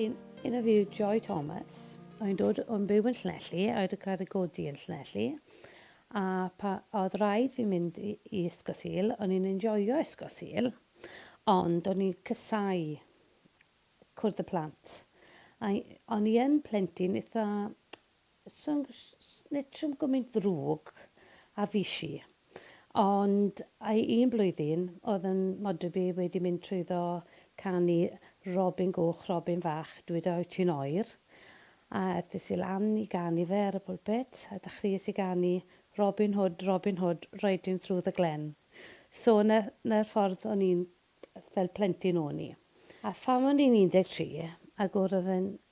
In, in a view Joy Thomas, o'n dod o'n byw yn Llanelli, a oedd yn cael ei godi yn Llanelli, a pa, oedd rhaid fi mynd i, i Ysgol Sul, o'n i'n enjoio Ysgol Sul, ond o'n i'n cysau cwrdd y plant. A o'n i yn plentyn eitha Snitsham gymint ddrwg a fish i. Ond ai un blwyddyn oedd yn Modrybu wedi mynd trwyddo canu Robin Goch Robin Fach dwi da wyt ti'n oer a aethis i lan i ganu fe ar y pulpit a dachries i ganu Robin Hood Robin Hood riding through the glen so 'na'r ffordd o'n i'n fel plentyn o'n i a phan o'n i'n 13 ag wrdd yn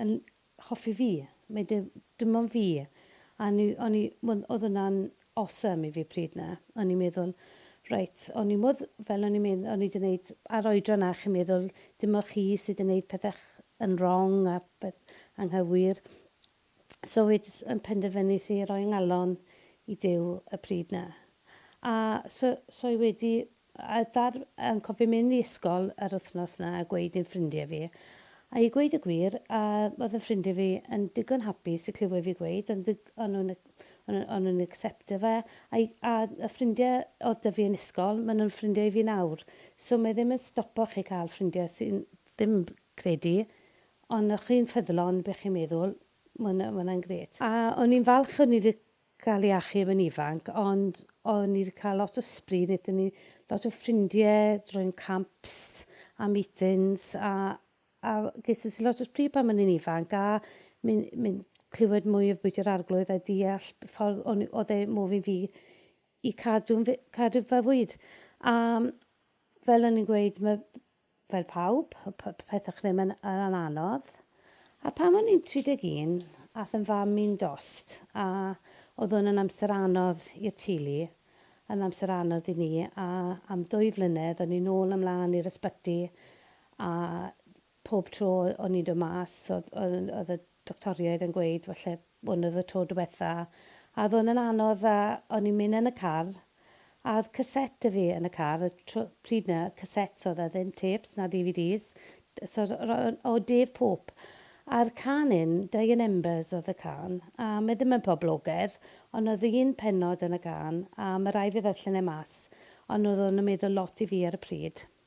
yn hoffi fi. Mae dim, dim ond fi. A o'n i, o'n i, wel, oedd hwnna'n awesome i fi pryd 'na. O'n i'n meddwl, reit, o'n i modd, fel o'n i'n medd- o'n i 'di neud, a'r oedran 'na chi'n meddwl, dim ond chi sy 'di neud pethau yn wrong a peth anghywir. So wedys, yn penderfynus i roi 'ngalon i Duw y pryd 'na. A so, so i wedi A dda'r, yn cofio mynd i ysgol yr wythnos 'na a gweud i'n ffrindiau fi. A i gweud y gwir, yy, oedd yn ffrindiau fi yn digon hapus i clywed fi gweud, ond y- o'n nhw'n y- o'n nhw- o'n nhw'n acseptio fe. A i, a y ffrindiau oedd 'da fi yn ysgol, maen nhw'n ffrindiau i fi nawr. So mae ddim yn stopo chi cael ffrindiau sy'n ddim credu, ond o'ch chi'n ffyddlon be' chi'n meddwl, ma' hwnna, ma' hwnna'n grêt. A o'n i'n falch o'n i 'di cael ei achub yn ifanc ond o'n ni 'di cael lot o sbri nethon ni lot o ffrindie drwy'n camps a meetings a a geson si lot o sbri pan o'n i'n ifanc a myn' myn' clywed mwy o bwyta'r arglwydd a deall y ffordd o'n i o'dd e mor fynd fi i cadw'n fi- cadw fy fwyd a fel o'n i'n gweud ma' Fel pawb, oedd pethau ddim yn anodd. A pan o'n i'n 31, aeth yn fam i'n dost, a oedd hwn yn amser anodd i'r teulu, yn amser anodd i ni, a am dwy flynedd o'n i'n ôl a mlaen i'r ysbyty, a pob tro o'n i'n dod mas oedd oedd oedd y doctoriaid yn gweud falle hwn oedd y tro diwetha a oedd hwn yn anodd a o'n i'n mynd yn y car a oedd cassette 'da fi yn y car y tro pryd 'na cassettes oedd e ddim tapes na DVDs so ro- o o Dave Pope a'r can 'yn Dying Embers oedd y can a mae ddim yn poblogedd ond oedd un pennod yn y can a ma' rai' fi ddarllen e mas ond oedd hwn yn meddwl lot i fi ar y pryd.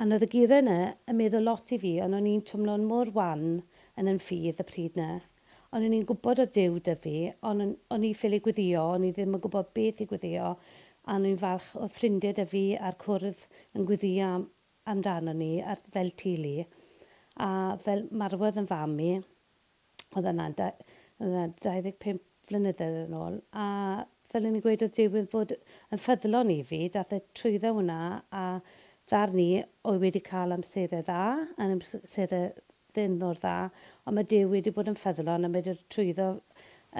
Anodd y gure 'na, yn meddwl lot i fi ond o'n i'n twmlo'n mor wan yn yn ffydd y pryd 'na. Ond o'n i'n gwbod o'dd Duw 'da fi ond o'n o'n i ffili gweddio o'n i ddim yn gwbod beth i gweddio a o'n i'n falch o'dd ffrindie 'da fi a'r cwrdd yn gweddio am amdano ni a fel teulu a fel marwodd yn fam i oedd yna, oedd yna 25 flynyddoedd yn ôl, a fel o'n i'n gweud oedd Duw yn bod yn ffyddlon i fi, daeth e trwyddo hwnna a ddarn i oedd wedi cael amserau dda, yn amserau ddim mor dda, ond mae Duw wedi bod yn ffyddlon a mae wedi trwyddo,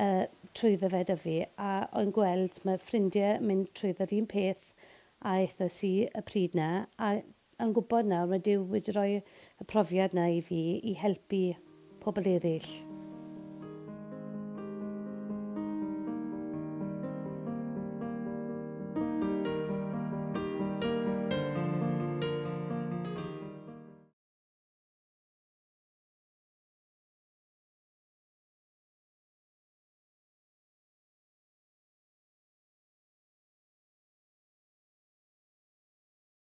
uh, trwyddo fe da fi, a o'n gweld mae ffrindiau mynd trwyddo'r un peth a aethas i y pryd na, a yn gwybod nawr, mae Duw wedi rhoi y profiad 'na i fi i helpu pobl eraill.